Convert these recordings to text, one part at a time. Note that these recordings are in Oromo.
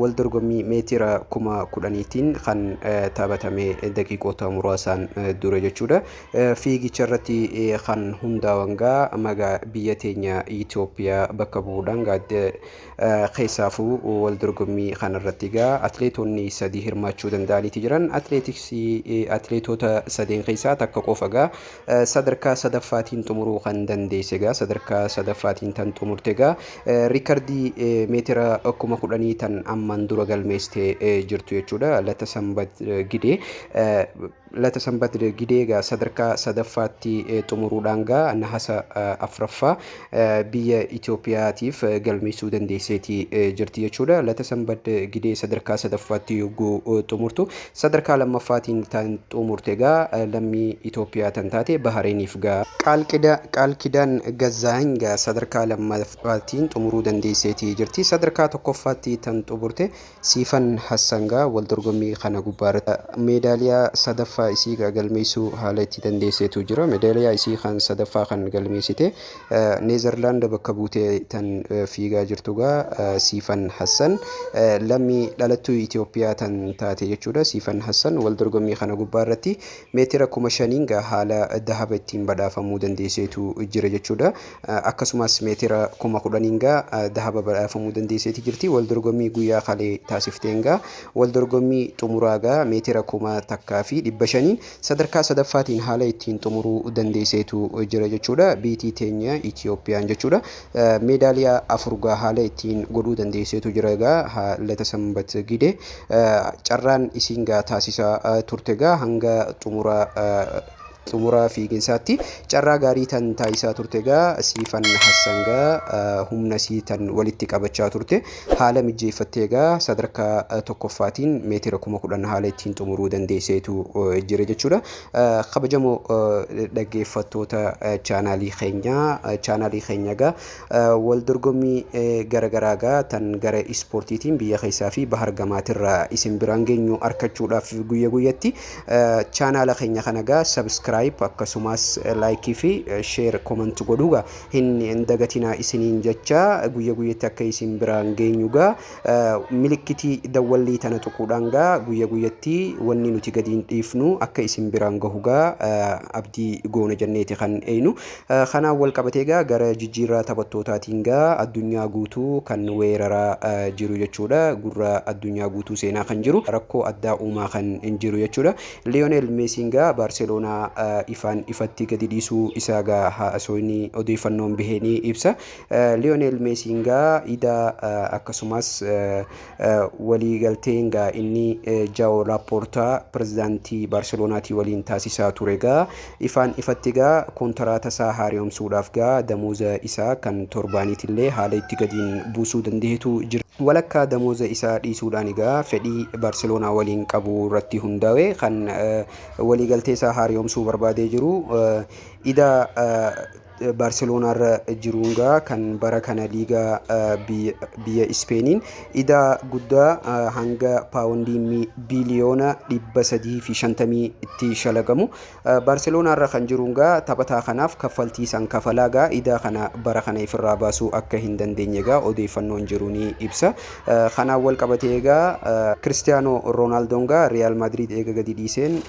Wal dorgommii meetira kuma kudhaniitiin kan taphatame daqiiqoota muraasaan dura jechuudha. Fiigicha irratti kan hundaawan gaa magaa biyya teenya Itoophiyaa bakka bu'uudhaan gaadde keessaafuu wal dorgommii kana irratti gaa atileetonni sadii hirmaachuu danda'aniiti jiran. Atileetiksii atileetota sadeen keessaa takka qofa gaa sadarkaa sadaffaatiin xumuruu kan dandeesse egaa sadarkaa sadaffaatiin tan xumurte egaa riikardii meetira kuma kudhanii tan amman dura galmeessite jirtu jechuudha lata sanbat gidee lata sanbat gidee egaa sadarkaa sadaffaatti xumuruudhaan egaa nahasa afraffaa biyya Itoophiyaatiif galmeessuu dandeesseeti jirti jechuudha. Lata Sanbad Gidee sadarkaa sadaffaatti yogguu xumurtu sadarkaa lammaffaatiin tan xumurte gaa lammii Itoophiyaa tan taate Bahareeniif gaa. Qaal Kidaan Gazzaahany gaa sadarkaa lammaffaatiin xumuruu dandeesseeti jirti. Sadarkaa tokkoffaatti tan xumurte Siifan Hassangaa wal dorgommii kana gubbaarratti meedaaliyaa sadaffaa isii galmeessuu haala itti dandeesseetu jira. Meedaaliyaa isii kan sadaffaa kan galmeessite Neezarlaand bakka buutee tan fiigaa jirtu gaa Siifan Hassan lammii dhalattuu Itoophiyaa tan taate jechuudha. Siifan Hassan wal dorgommii kana gubbaarratti meetira kuma shaniin gaa haala dahaba ittiin badhaafamuu dandeesseetu jira jechuudha. akkasumas meetira kuma kudhaniin gaa dahaba badhaafamuu dandeesseeti jirti. Wal dorgommii guyyaa kalee taasifteen gaa wal dorgommii xumuraa gaa meetira kuma takkaa fi dhibba shaniin sadarkaa sadaffaatiin haala ittiin xumuruu dandeesseetu jira jechuudha. Biitii teenya Itiyoophiyaan jechuudha. Meedaaliyaa afur gaa haala ittiin godhuu dandeesseetu jira gaa haalata sanbat gide carraan isiin gaa taasisaa turte gaa hanga xumuraa xumuraa fiiginsaatti carraa gaarii tan taasisaa turte gaa siifan hassan gaa humna sii tan walitti qabachaa turte haala mijjeeffattee gaa sadarkaa tokkoffaatiin meetira kuma kudhan haala ittiin xumuruu dandeesseetu jira jechuudha. Kabajamoo dhaggeeffattoota chaanaalii keenyaa chaanaalii keenya gaa wal dorgommii garagaraa gaa tan gara ispoortiitiin biyya keessaa fi bahar gamaatirraa isin biraan geenyu arkachuudhaaf guyya guyyatti Chaanaala keenya kana gaa subscribe akkasumas like fi share comment godhuu gaa hin hin dagatinaa isiniin jecha guyya guyyatti akka isin biraan geenyu gaa milikkitii dawwallii tana tuquudhaan gaa guyya guyyatti wanni nuti gadiin dhiifnu akka isin biraan gahu gaa abdii goona jenneeti kan eeynu. Kanaan walqabatee egaa gara jijjiirraa taphattootaatiin egaa addunyaa guutuu kan weeraraa jiru jechuudha. Gurra addunyaa guutuu seenaa kan jiru, rakkoo addaa uumaa kan jiru jechuudha. Liyooneel Meesiin egaa Baarseloonaa ifaan ifatti gadi dhiisuu isaa egaa haasofni odeeffannoon bahee ni ibsa. Liyooneel Meesiin egaa idaa akkasumas waliigalteen gaa inni Jao Laporta pirezidaantii Baarseloonaatii waliin taasisaa ture gaa ifaan ifatti gaa kontaraata isaa haariyomsuudhaaf gaa damooza isaa kan torbaaniitillee haala itti gadiin buusuu dandahetu jira. Walakkaa damooza isaa dhiisuudhaan egaa fedhii Baarseloonaa waliin qabu irratti hundaawe kan waliigaltee isaa haariyomsuu barbaadee jiru idaa Baarseloonaa irra jiruun gaa kan bara kana liigaa biyya Ispeeniin idaa guddaa hanga paawundii biliyoona 350tti shalagamu. Baarseloonaa irra kan jiruun gaa taphataa kanaaf kaffaltii san kafalaa gaa idaa kana bara kana ifirraa baasuu akka hin dandeenye gaa odeeffannoon jiru ni ibsa. Kanaan wal qabatee egaa Kiristiyaanoo Roonaaldoon gaa Riyaal Maadriid eega gadi dhiiseen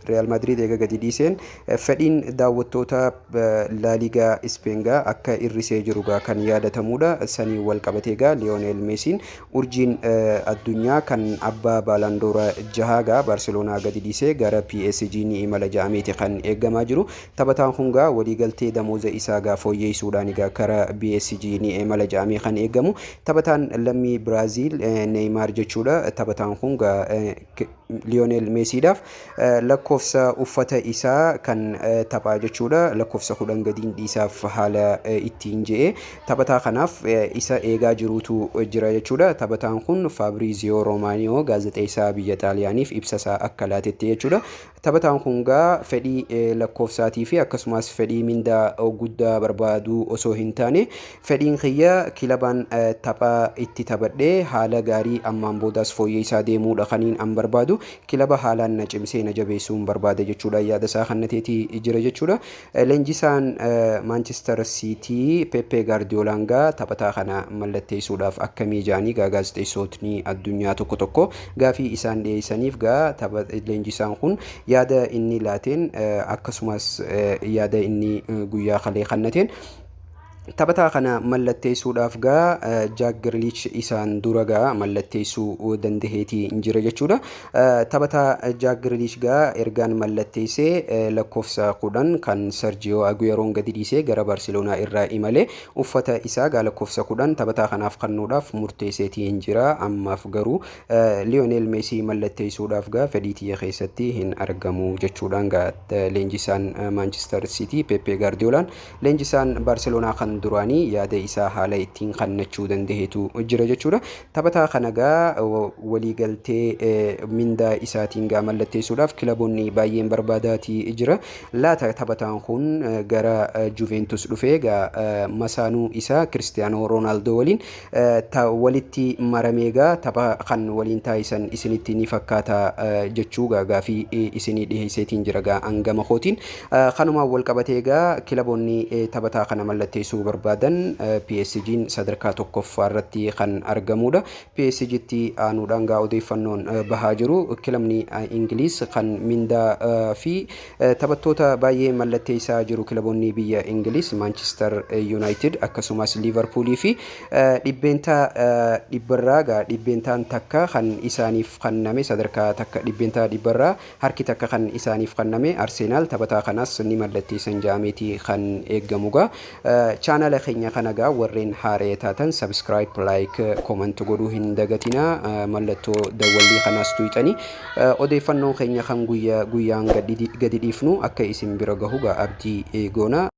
Riyaal Maadriid eega gadi dhiiseen fedhiin daawwattoota Laaliigaa Ispeen gaa akka irrisee jiru gaa kan yaadatamuudha. Saniin wal qabatee gaa Liyooneel Meesiin urjiin addunyaa kan abbaa Baalaandoora jahaa gaa Baarseloonaa gadi dhiisee gara PSG ni imala ja'ameeti kan eegamaa jiru. Taphataan kun gaa waliigaltee damooza isaa gaa fooyyeessuudhaan gaa kara PSG ni imala ja'amee kan eegamu. Taphataan lammii Biraaziil Neeymaar jechuudha. Taphataan kun gaa Liyonel Meesiidhaaf lakkoofsa uffata isaa kan taphaa jechuudha lakkoofsa kudhan gadiin dhiisaaf haala ittiin je'e taphataa kanaaf isa eegaa jiruutu jira jechuudha taphataan kun Faabriiziyoo Roomaaniyoo gaazexeessaa biyya Xaaliyaaniif ibsasaa akka laatetti jechuudha taphataan kun gaa fedhii lakkoofsaatii fi akkasumas fedhii mindaa guddaa barbaaduu osoo hin taane Fedhiin kiyya kilabaan tapha itti taphadhe haala gaarii ammaan boodaas fooyyeessaa deemuudha kaniin an barbaadu. Kilaba haalaan na cimsee na jabeessuun barbaada jechuudhaan yaada isaa kannateeti jira jechuudha. Leenjisaan Maanchister Siitii Peppee Gaardiyoolaan gaa taphataa kana mallatteessuudhaaf akkamii ja'anii gaa gaazexeessootni addunyaa tokko tokko gaafii isaan dhiyeessaniif gaa leenjisaan kun yaada inni laateen akkasumas yaada inni guyyaa kalee kannateen Taphataa kana mallatteessuudhaaf gaa Jaak Giriliich isaan dura gaa mallatteessuu dandaheeti jira jechuudha. Taphataa Jaak Giriliich gaa ergaan mallatteessee lakkoofsa kudhan kan Sarjiyoo Aguyeroon gadi dhiisee gara Baarseloonaa irraa imale uffata isaa gaa lakkoofsa kudhan taphataa kanaaf kannuudhaaf murteesseeti jira. Ammaaf garuu Liyoonel Meesii mallatteessuudhaaf gaa fedhii tiyya keessatti hin argamu jechuudhaan gaa leenjisaan Maanchister Siitii Peppee Gaardiyoolaan Leenjisaan Baarseloonaa kan duraanii yaada isaa haala ittiin kannachuu dandahetu jira jechuudha. Taphataa kana gaa waliigaltee mindaa isaatiin gaa mallatteessuudhaaf kilaboonni baay'een barbaadaati jira. Laata taphataan kun gara Juventus dhufee gaa masaanuu isaa Kiristiyaanoo Roonaaldoo waliin ta walitti maramee gaa tapha kan waliin taasisan isinitti ni fakkaata jechuu gaa gaafii isinii dhiheesseetiin jira gaa an gama kootiin kanumaan wal qabatee gaa kilaboonni taphataa kana mallatteessuu barbaadan PSG'n sadarkaa tokkoffaa irratti kan argamuudha PSG'tti aanuudhaan gaa odeeffannoon bahaa jiru kilabni Ingiliis kan mindaa fi Taphattoota baay'ee mallatteessaa jiru kilaboonni biyya Ingiliiz, Maanchister Yuunaayitid akkasumas Liivarpuulii fi dhibbeentaa dhibbarraa gaa dhibbeentaan takka kan isaaniif kanname sadarkaa takka dhibbeentaa dhibbarraa harki takka kan isaaniif kanname Arseenaal taphataa kanas ni mallatteessan ja'ameeti kan eeggamu gaa Channel keenya kana egaa warreen haaree taatan subscribe, like, comment godhuu hin dagatina. Mallattoo dawwallii kanaas tuqxanii odeeffannoon keenya kan guyyaa guyyaan gadi dhiifnu akka isin bira gahu egaa abdii goona.